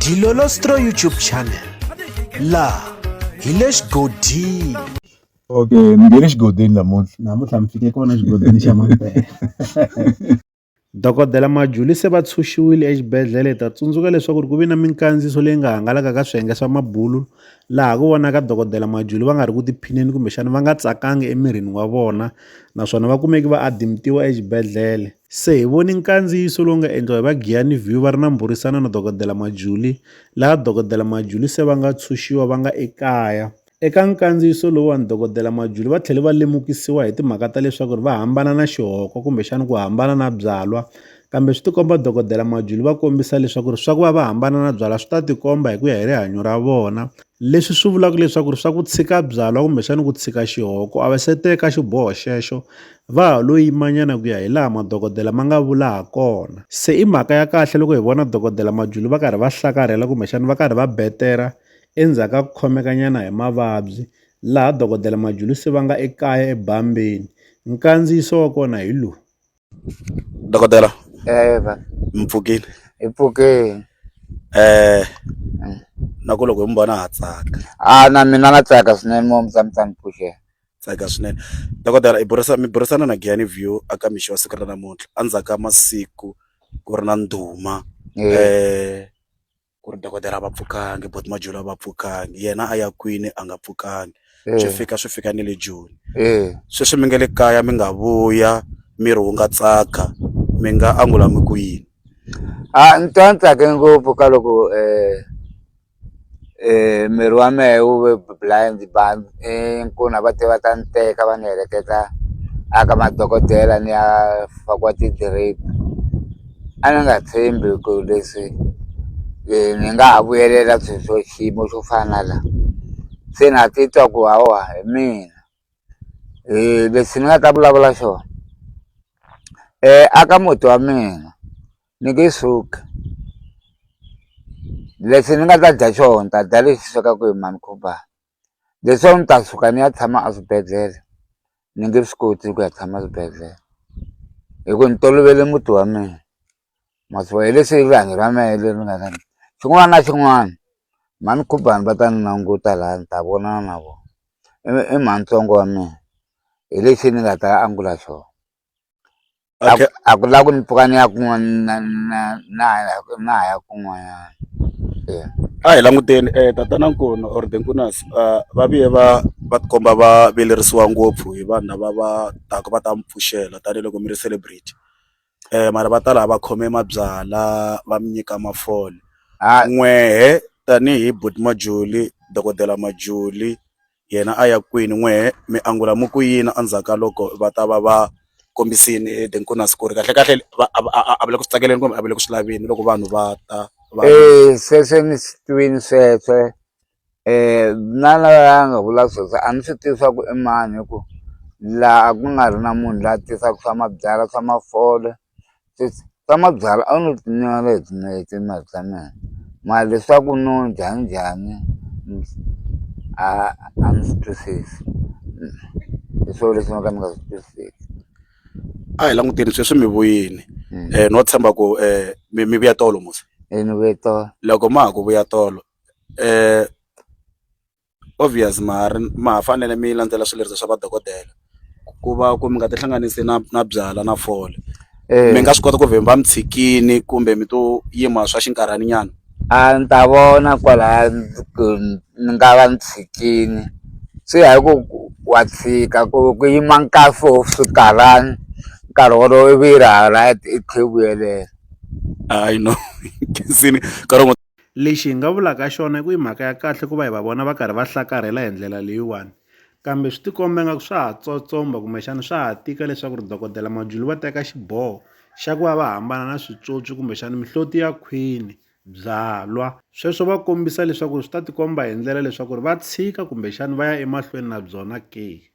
Dilolostro YouTube channel laha hi le xigodini okay ni nge le xigodini namuntlha namuntlha mi fike kona xigodini xa mampela Dokodela Majuli se va tshunxiwile exibedhlele hi ta tsundzuka leswaku ri ku ve na minkandziso leyi nga hangalaka ka swiyenge swa mabulu laha ku vonaka dokodela Majuli va nga ri ku tiphineni kumbexana va nga tsakanga emirini wa vona naswona va kumeki va adimitiwa exibedhlele. Se hi vone nkandziyiso lowu nga endliwa hi va Giyani View va ri na mbhurisano na Dokodela Majuli, laha Dokodela Majuli se va nga tshunxiwa va nga ekaya. Eka nkandziyiso lowuwani Dokodela Majuli va tlhele va lemukisiwa hi timhaka ta leswaku ri va hambana na xihoko kumbexana ku hambana na byalwa, kambe swi tikomba Dokodela Majuli va kombisa leswaku ri swa ku va va hambana na byalwa swi ta tikomba hi ku ya hi rihanyo ra vona, leswi swi vulaka leswaku ri swa ku tshika byalwa kumbexana ku tshika xihoko a va se teka xiboho xexo Va ha lo yimanyana ku ya hi laha madokodela ma nga vula ha kona. Se i mhaka ya kahle loko hi vona Dokodela Majulu va karhi va hlakarhela kumbexana va karhi va betera endzhaku ka ku khomekanyana hi mavabyi laha Dokodela Majulu se va nga ekaya eBambeni. Nkandziyiso wa kona hi lowu. Dokodela. Eya. Mi pfukile? Hi pfukile. Na ku loko hi mi vona ha tsaka. A na mina na tsaka swinene mo mi za mi ta ni pfuxela. tsaka swinene dokodela hi burisana mi burisana na Giani View a ka mixo wa siku ra namuntlha a ndzhaku ka masiku ku ri na ndhuma ku ri dokodela a va pfukanga buti Majola a va pfukanga yena a ya kwini a nga pfukanga swi fika swi fika ni le Joni sweswi mi nga le kaya mi nga vuya miri wu nga tsaka mi nga angula mi ku yini a ni twa ni tsake ngopfu ka loko . miri wa mehe wu ve blind va inkomu a va te va ta ni teka va ni heleketa a ka madokodela ni ya fakiwa ti-drip a ni nga tshembi ku leswi ni nga ha vuyelela sweswo xiyimo xo fana na la se na titwa ku hawa hi mina lexi ni nga ta vulavula xona a ka muti wa mina Ni nge suki lexi ni nga ta dya xona ni ta dya lexi swekaka hi mhani Khubani leswaku ni ta suka ni ya tshama eswibedhlele ni nge swi koti ku ya tshama swibedhlele hi ku ni tolovele muti wa mina ma swi vona hi leswi rihanyo ra mehe leri ni nga na xin'wana na xin'wana mhani Khubani va ta ni languta laha ni ta vonana na vona i i mhani ntsongo wa mina hi lexi ni nga ta angula xona. a Okay. ku- a ku lavi ku ni pfuka ni ya kun'wana na na na ha ya ku- na ha ya kun'wanyana Yeah. a hi languteni um tatana nkuna or the nkunas um va vuye va va tikomba va vilerisiwa ngopfu hi vanhu lava va taka va ta mi pfuxela tanihiloko mi ri celebrity um mara va ta laha va khome mabyala va mi nyika mafole Ah, n'wehe tanihi but majuli dokodela majuli yena a ya kwini n'wehe mi angula mi ku yini endzhaku ka loko va ta va va kombisini tinkuzi ku ri kahle kahle va a va a va le ku swi tsakeleni kumbe a va le ku swi laveni loko vanhu va ta va sweswo ni swi twini sweswo na lava nga vula sweswo a ni swi tivi swa ku i mani hi ku laha ku nga ri na munhu la tisaka swa mabyalwa swa mafole. swa mabyalwa a wu ni tinwele hi tinwele timali ta mina mara leswaku no dya njhani a a ni swi twisisi hi swo leswi no ka ni nga swi twisiseki a hi languteni sweswi mi vuyini no tshemba ku mi mi vuya tolo musi ni vuye tolo loko ma ha ku vuya tolo . obvious ma ha ri ma ha fanele mi landzela swileriso swa madokodela ku va ku mi nga tihlanganisi na na byala na fole mi nga swi kota ku vhimba mi tshikini kumbe mi to yima swa xinkarhana nyana a ni ta vona kwalaya ni nga va ni tshikini swi ya hi ku wa tshika ku ku yima nkarhi for xinkarhana nkarhi wolowo ivi i ri hala i tlhe i vuyelela hayi no khensile nkarhi . Lexi hi nga vulaka xona i ku i mhaka ya kahle ku va hi va vona va karhi va hlakarhela hi ndlela leyiwani kambe swi tikomba nga ku swa ha tsotsomba kumbexana swa ha tika leswaku ri dokodela Majulu va teka xiboho xa ku va va hambana na switswotswi kumbexana mihloti ya khwini byalwa sweswo va kombisa leswaku swi ta tikomba hi ndlela leswaku ri va tshika kumbexana va ya emahlweni na byona ke.